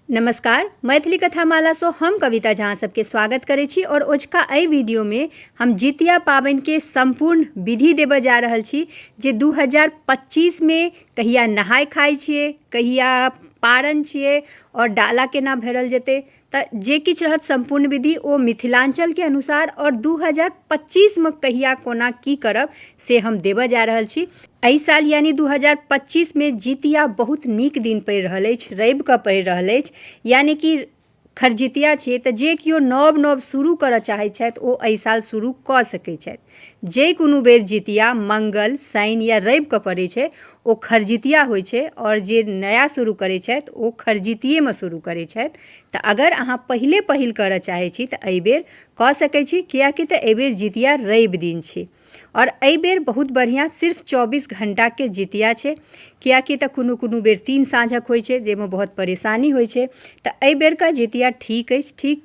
नमस्कार मैथिली कथा मालासँ हम कविता झा सबके स्वागत करै छी आओर ओझका एहि वीडियोमे हम जितिया पाबनिके सम्पूर्ण विधि देबऽ जा रहल छी जे 2025मे कहिया नहाय खाय छियै कहिया पारन छियै आओर डाला केना भरल जेतै तऽ जे किछु रहत सम्पूर्ण विधि ओ मिथिलाञ्चलके अनुसार आओर दू हजार पच्चीसमे कहिया कोना की करब से हम देबऽ जा रहल छी एहि साल यानि दू हजार पच्चीसमे जितिया बहुत नीक दिन पड़ि रहल अछि रवि कऽ पड़ि रहल अछि यानि कि खरजितिया छियै तऽ जे केओ नव नव शुरू करऽ चाहैत छथि ओ एहि साल शुरू कऽ सकैत छथि जे कोनो बेर जितिया मङ्गल शनि या रविके पड़ै छै ओ खरजितिया होइ छै आओर जे नया शुरू करै छथि ओ खरजितियेमे शुरू करै छथि तऽ अगर अहाँ पहिले पहिल करऽ चाहै छी तऽ एहि बेर कऽ सकै छी किएकि तऽ एहि बेर जितिया रवि दिन छै आओर एहि बेर बहुत बढ़िऑं सिर्फ चौबीस घण्टाके जितिया छै किएकि तऽ कोनो कोनो बेर तीन साँझक होइ छै जाहिमे बहुत परेशानी होइ छै तऽ एहि बेरके जितिया ठीक अछि ठीक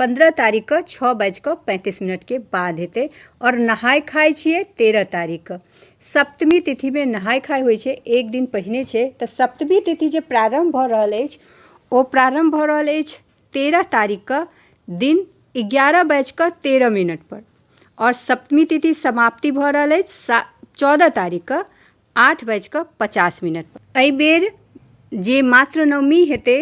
पन्द्रह तारीखके छओ बाजि कऽ पैंतीस मिनटके बाद हेतै आओर नहाय खाय छियै तेरह तारीखके सप्तमी तिथिमे नहाय खाय होइ छै एक दिन पहिने छै तऽ सप्तमी तिथि जे प्रारम्भ भऽ रहल अछि ओ प्रारम्भ भऽ रहल अछि तेरह तारीखके दिन एगारह बाजि कऽ तेरह मिनट पर आओर सप्तमी तिथि समाप्ति भऽ रहल अछि सा चौदह तारीखके आठ बाजि कऽ पचास मिनटपर एहि बेर जे मातृनवमी हेतै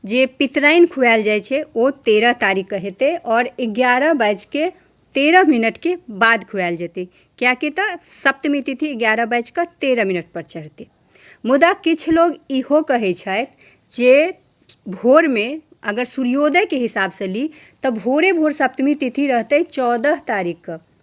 जे पितराइन खुआएल जाइ छै ओ तेरह तारीखके हेतै आओर एगारह बाजि कऽ तेरह मिनटके बाद खुआएल जेतै कियाकि तऽ सप्तमी तिथि एगारह बाजि कऽ तेरह मिनटपर चढ़तै मुदा किछु लोक इहो कहै छथि जे भोरमे अगर सूर्योदयके हिसाबसँ ली तऽ भोरे भोर सप्तमी तिथि रहतै चौदह तारीखके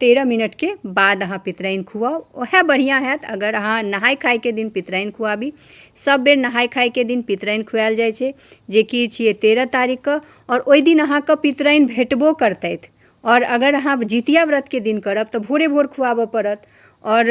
तेरह मिनटके बाद अहाँ पितराइन खुआउ ओहे बढ़िआँ हैत अगर अहाँ नहाय खायके दिन पितराइन खुआबी सब बेर नहाय खायके दिन पितराइन खुआयल जाइ छै जेकि छियै तेरह तारीखके आओर ओइ दिन अहाँके पितराइन भेटबो करतथि आओर अगर अहाँ जितिया व्रतके दिन करब तऽ भोरे भोर खुआबऽ पड़त आओर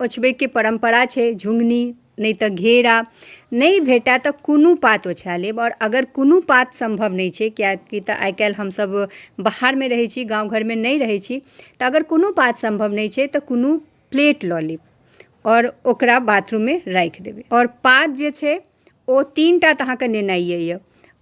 ओछबैके परम्परा छै झुङ्गनी नहि तऽ घेरा नहि भेटै तऽ कोनो पात ओछा लेब आओर अगर कोनो पात सम्भव नहि छै किएकि तऽ आइ काल्हि हमसब बाहरमे रहै छी गाँव घरमे नहि रहै छी तऽ अगर कोनो पात सम्भव नहि छै तऽ कोनो प्लेट लऽ लेब आओर ओकरा बाथरूममे राखि देबै आओर पात जे छै ओ तीनटा तऽ अहाँके नेनाइए अइ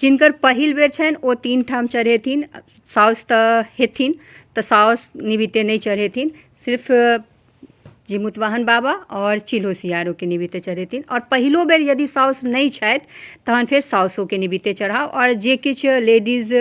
जिनकर पहिल बेर छनि ओ तीन ठाम चढ़ेथिन साउस तऽ हेथिन तऽ साउस निमित्ते नहि चढ़ेथिन सिर्फ जिमुतवाहन बाबा आओर चिल्हो सियारोके निमित्ते चढ़ेथिन आओर पहिलो बेर यदि साउस नहि छथि तहन फेर साउसोके निमित्ते चढ़ाउ आओर जे किछु लेडीज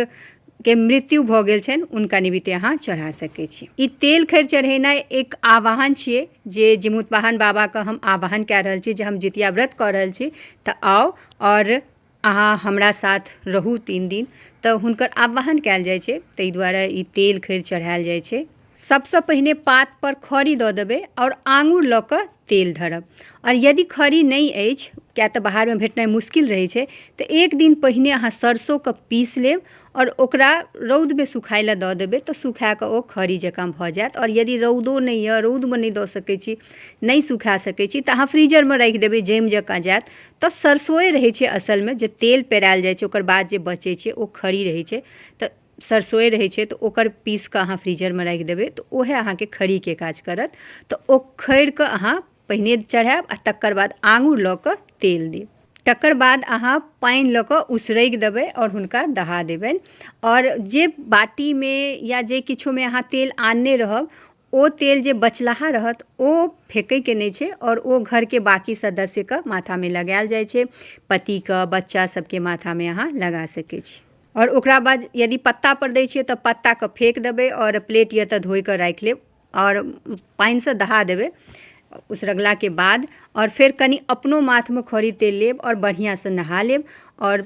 के मृत्यु भऽ गेल छनि हुनका निमित्ते अहाँ चढ़ा सकै छी ई तेल खैर चढ़ेनाइ एक आवाहन छियै जे जिमुतवाहन बाबाके हम आवाहन कए रहल छी जे हम जितिया व्रत कऽ रहल छी तऽ आउ आओर अहाँ हमरा साथ रहू तीन दिन तऽ हुनकर आवाहन कयल जाइ छै ताहि दुआरे ई तेल खैर चढ़ायल जाइ छै सभसँ पहिने पात पर खड़ी दऽ देबै आओर आंगुर लऽ कऽ तेल धरब आओर यदि खड़ी नहि अछि किया तऽ बाहरमे भेटनाइ मुश्किल रहै छै तऽ एक दिन पहिने अहाँ सरसोके पीस लेब आओर ओकरा रौदमे सुखाय लेल दऽ देबै तऽ सुखा कऽ ओ खड़ी जकाँ भऽ जायत आओर यदि रौदो नहि यऽ रौदमे नहि दऽ सकै छी नहि सुखा सकै छी तऽ अहाँ फ्रीजरमे राखि देबै जैम जकाँ जायत तऽ सरसोए रहै छै असलमे जे तेल पेरायल जाइ छै ओकर बाद जे बचै छै ओ खड़ी रहै छै तऽ सरसोए रहै छै तऽ ओकर पीस कऽ अहाँ फ्रीजरमे राखि देबै तऽ ओहे अहाँके खड़ीके काज करत तऽ ओ खड़ीके अहाँ पहिने चढ़ायब आओर तकर बाद आङ्गुर लऽ कऽ तेल देब तकर बाद अहाँ पानि लऽ कऽ उसरगि देबै आओर हुनका दहा देबनि आओर जे बाटीमे या जे किछोमे अहाँ तेल आनने रहब ओ तेल जे बचलाहा रहत ओ फेकैके नहि छै आओर ओ घरके बाँकी सदस्यके माथामे लगायल जाइ छै पतिके बच्चा सबके माथामे अहाँ लगा सकै छी आओर ओकरा बाद यदि पत्तापर दै छियै तऽ पत्ताके फेक देबै आओर प्लेट यऽ तऽ धोकऽ राखि लेब आओर पानिसँ दहा देबै उसरगलाके बाद आओर फेर कनी अपनो माथमे खड़ी तेल लेब आओर बढ़िआँसँ नहा लेब आओर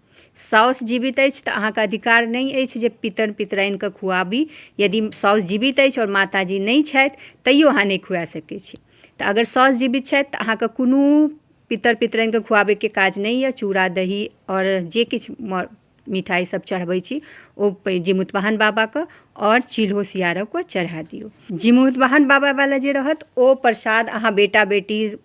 साउस जीवित अछि तऽ अहाँके अधिकार नहि अछि जे पितर पितराइनके खुआबी यदि साउस जीवित अछि आओर माताजी नहि छथि तैयो अहाँ नहि खुआ सकै छी तऽ अगर साउस जीवित छथि तऽ अहाँके कोनो पितर पितराइनके खुआबैके काज नहि यऽ चूड़ा दही आओर जे किछु मिठाइ सब चढ़बै छी ओ जीमूतवाहन बाबाके आओर चील्हो सियारोके चढ़ा दियौ जीमूतवाहन बाबावला जे रहत ओ प्रसाद अहाँ बेटा बेटी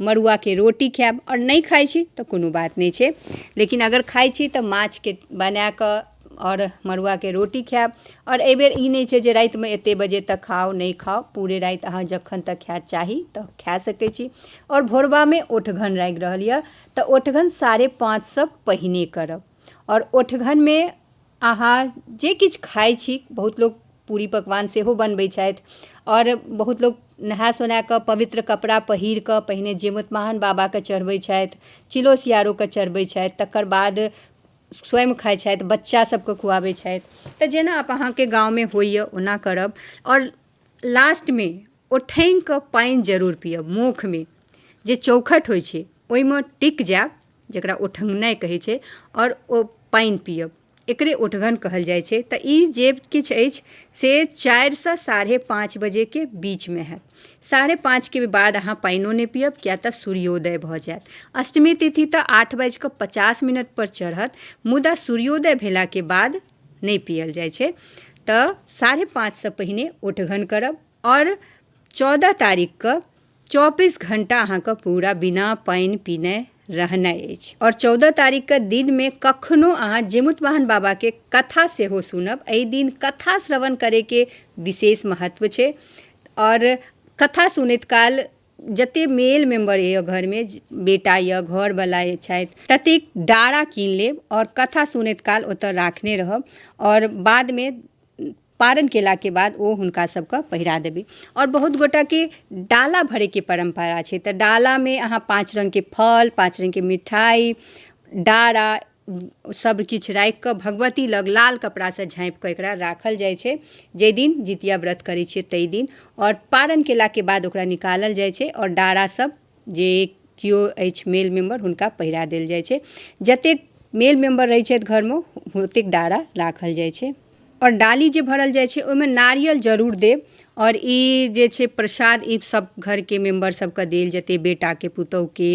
मड़ुआके रोटी खायब आओर नहि खाइ छी तऽ कोनो बात नहि छै लेकिन अगर खाइ छी तऽ माछके बनाकऽ आओर मड़ुआके रोटी खायब आओर एहि बेर ई नहि छै जे रातिमे एते बजे तक खाउ नहि खाउ पूरे राति अहाँ जखन तक खायके चाही तऽ खाय सकै छी आओर भोरबामे ओठगन लागि रहल यऽ तऽ ओठगन साढ़े पाँचसँ पहिने करब आओर ओठघनमे अहाँ जे किछु खाइ छी बहुत लोक पूड़ी पकवान सेहो बनबै छथि आओर बहुत लोक नहा सोना कऽ पवित्र कपड़ा पहिर कऽ पहिने जीमूतवाहन बाबाके चढ़बै छथि चिलो सियारोके चढ़बै छथि तकर बाद स्वयं खाइ छथि बच्चा सबके खुआबै छथि तऽ जेना अहाँके गाँवमे होइए ओना करब आओर लास्टमे ओ ठेहुनके पानि जरूर पिअब मुखमे जे चौकठ होइ छै ओहिमे टिकि जाएब जकरा ओठङ्गनाइ कहै छै आओर ओ पानि पिअब एकरे ओठगन कहल जाइ छै तऽ ई जे किछु अछि से चारिसँ साढ़े पाँच बजेके बीचमे हैत साढ़े पाँचके बाद अहाँ पानिओ नहि पिअब किएक तऽ सूर्योदय भऽ जाएत अष्टमी तिथि तऽ आठ बाजिकऽ पचास मिनटपर चढ़त मुदा सूर्योदय भेलाके बाद नहि पिअल जाइ छै तऽ साढ़े पाँचसँ पहिने ओठगन करब आओर चौदह तारीखके चौबीस घण्टा अहाँके पूरा बिना पानि पिने रहनाइ अछि आओर चौदह तारीखके दिनमे कखनो अहाँ जीमूत वाहन बाबाके कथा सेहो सुनब एहि दिन कथा श्रवण करैके विशेष महत्व छै आओर कथा सुनैत काल जतेक मेल मेम्बर अइ घरमे बेटा अइ घरवला अइ छथि ततेक डारा कीनि लेब आओर कथा सुनैत काल ओतऽ राखने रहब आओर बादमे पारण केलाके बाद ओ हुनका सभके पहिरा देबै आओर बहुत गोटाके डाला भरैके परम्परा छै तऽ डालामे अहाँ पाँच रङ्गके फल पाँच रङ्गके मिठाइ डारा सभ किछु राखिकऽ भगवती लग लाल कपड़ासँ झाँपिकऽ एकरा राखल जाइ छै जाहि दिन जितिया व्रत करै छियै ताहि दिन आओर पारण केलाके बाद ओकरा निकालल जाइ छै आओर डारा सभ जे केओ अछि मेल मेम्बर हुनका पहिरा देल जाइ छै जतेक मेल मेम्बर रहै छथि घरमे ओतेक डारा राखल जाइ छै आओर डाली जे भरल जाइ छै ओहिमे नारियल जरूर देब आओर ई जे छै प्रसाद ई सब घरके मेम्बर सबके देल जेतै बेटाके पुतौहके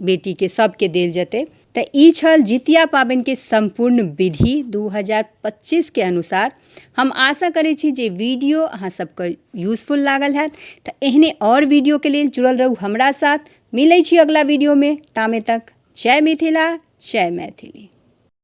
बेटीके सबके देल जेतै तऽ ई छल जितिया पाबनिके सम्पूर्ण विधि 2025 के अनुसार हम आशा करै छी जे वीडियो अहाँ सबके यूजफुल लागल हैत तऽ एहने और वीडियो के लेल जुड़ल रहू हमरा साथ मिलै छी अगला वीडियो में तामे तक जय मिथिला जय मैथिली